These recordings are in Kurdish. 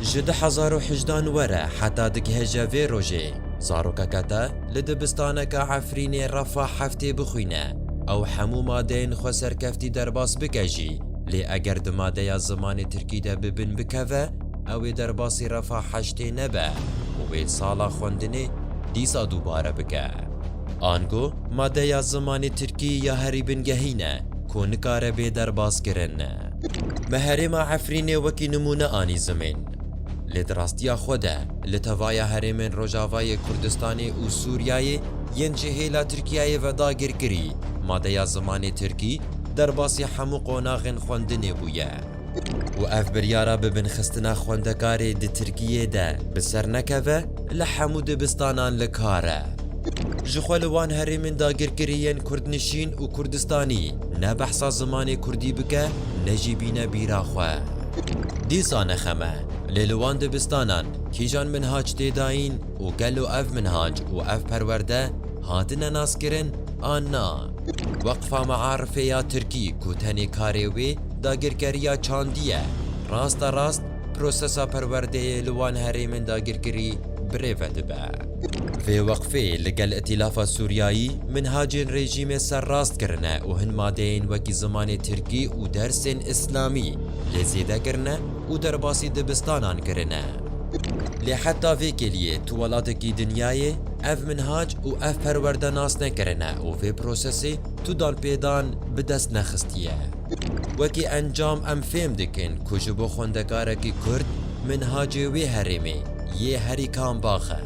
Ji du hezar û hejda an were heta digeheje vê rojê, zarokeke te li dibistaneke Efrînê refa heftê bixwîne, ew hemû madeyên xwe serkeftî derbas bike jî, lê eger di madeya zimanê tirkî de bi bin bikeve, ew ê derbasî refa heştê nebe û wê sala xwendinê dîsa dubare bike. Ango madeya zimanê tirkî ya herî bingehî ne ku nikare bê derbaskirin. Me herêma Efrînê wekî nimûne anî zimên. Lê di rastiya xwe de li tevaya herêmên Rojavayê Kurdistanê û Sûriyeyê yên ji hêla Tirkiyeyê ve dagirkirî madeya zimanê Tirkî derbasî hemû qonaxên xwendinê bûye û ev biryara bibinxistina xwendekarê di Tirkiyê de bi ser nekeve li hemû dibistanan li kar e. Jixwe li wan herêmên dagirkirî yên Kurdnişîn û Kurdistanî Ne behsa zimanê kurdî bike ne jî bîne bîra xwe. Dîsa ne xem e, lê li wan dibistanan kîjan minhac tê dayîn û gelo ev minhac û ev perwerde hatine naskirin an na? Weqfa Mearifê ya Tirkî ku tenê karê wê dagirkeriya çandî ye, raste rast Prosesa perwerdeyê li wan herêmên dagirkirî bi rê ve dibe. Vê weqfê li gel îtîlafa Sûriyayî minhacên rejîmê serrast kirine û hin madeyên wekî zimanê tirkî û dersên îslamî lê zêde kirine û derbasî dibistanan kirine. Lê heta vê kêliyê tu welatekî dinyayê ev minhac û ev perwerde nas nekirine û vê prosesê tu danpêdan bi dest nexistiye. Wekî encam em fêm dikin ku ji bo xwendekarekî Kurd minhacê wê herêmê yê herî kambax e.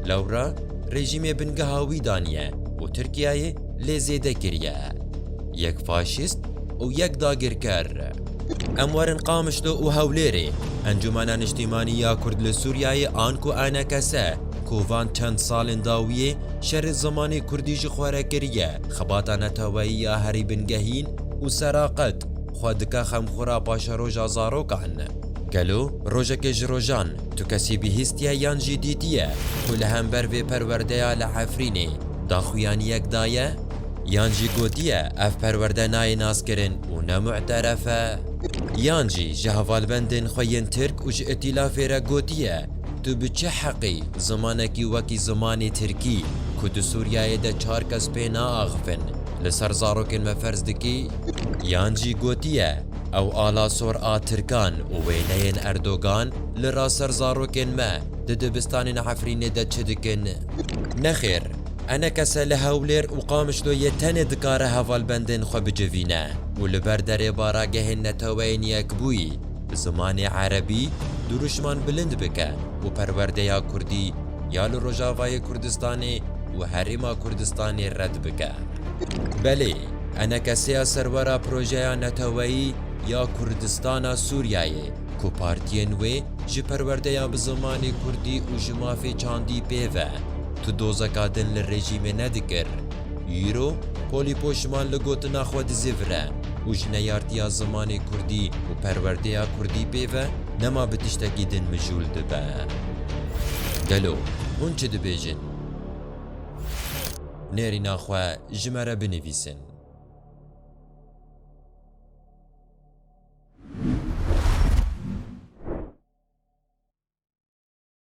Lewra rejîmê bingeha wî daniye û Tirkiyeyê lê zêde kiriye. Yek faşîst û yek dagirker. Em werin Qamişlo û Hewlêrê, Encûmena Niştîmanî ya Kurd li Sûriyeyê an ku enekese ku van çend salên dawiyê şerê zimanê Kurdî ji xwe re kiriye, Xebata neteweyî ya herî bingehîn û seraqet xwe dike xemxura paşeroja zarokan. Gelo rojekê ji rojan tu kesî bihîstiye yan jî dîtiye ku li hember vê perwerdeya li Efrînê daxuyaniyek daye? Yan jî gotiye ev perwerde nayê naskirin û ne mu'teref e? Yan jî ji hevalbendên xwe yên Tirk û ji îtîlafê re gotiye Tu bi çi heqî zimanekî wekî zimanê tirkî, ku di Sûriyeyê de çar kes pê naaxivin, li ser zarokên me ferz dikî? Yan jî gotiye, ew alasor a tirkan û wêneyên Erdogan li ra ser zarokên me di dibistanên Efrînê de çi dikin? Nexêr, enekese li Hewlêr û Qamişloyê tenê dikare hevalbendên xwe bicivîne û li ber derê baragehên neteweyên yekbûyî, bi zimanê erebî dirûşman bilind bike û perwerdeya kurdî ya li Rojavayê Kurdistanê û Herêma Kurdistanê red bike. Belê, enekeseya serwera projeya neteweyî ya Kurdistana Sûriyeyê ku partiyên wê ji perwerdeya bi zimanê kurdî û ji mafê çandî pê ve, tu dozeka din li rejîmê nedikir. Îro polî poşiman li gotina xwe dizê vire û ji neyartiya zimanê kurdî û perwerdeya kurdî pê ve nema bi tiştekî din mijûl dibe. Gelo hûn çi dibêjin? Nêrîna xwe ji me re binivîsin.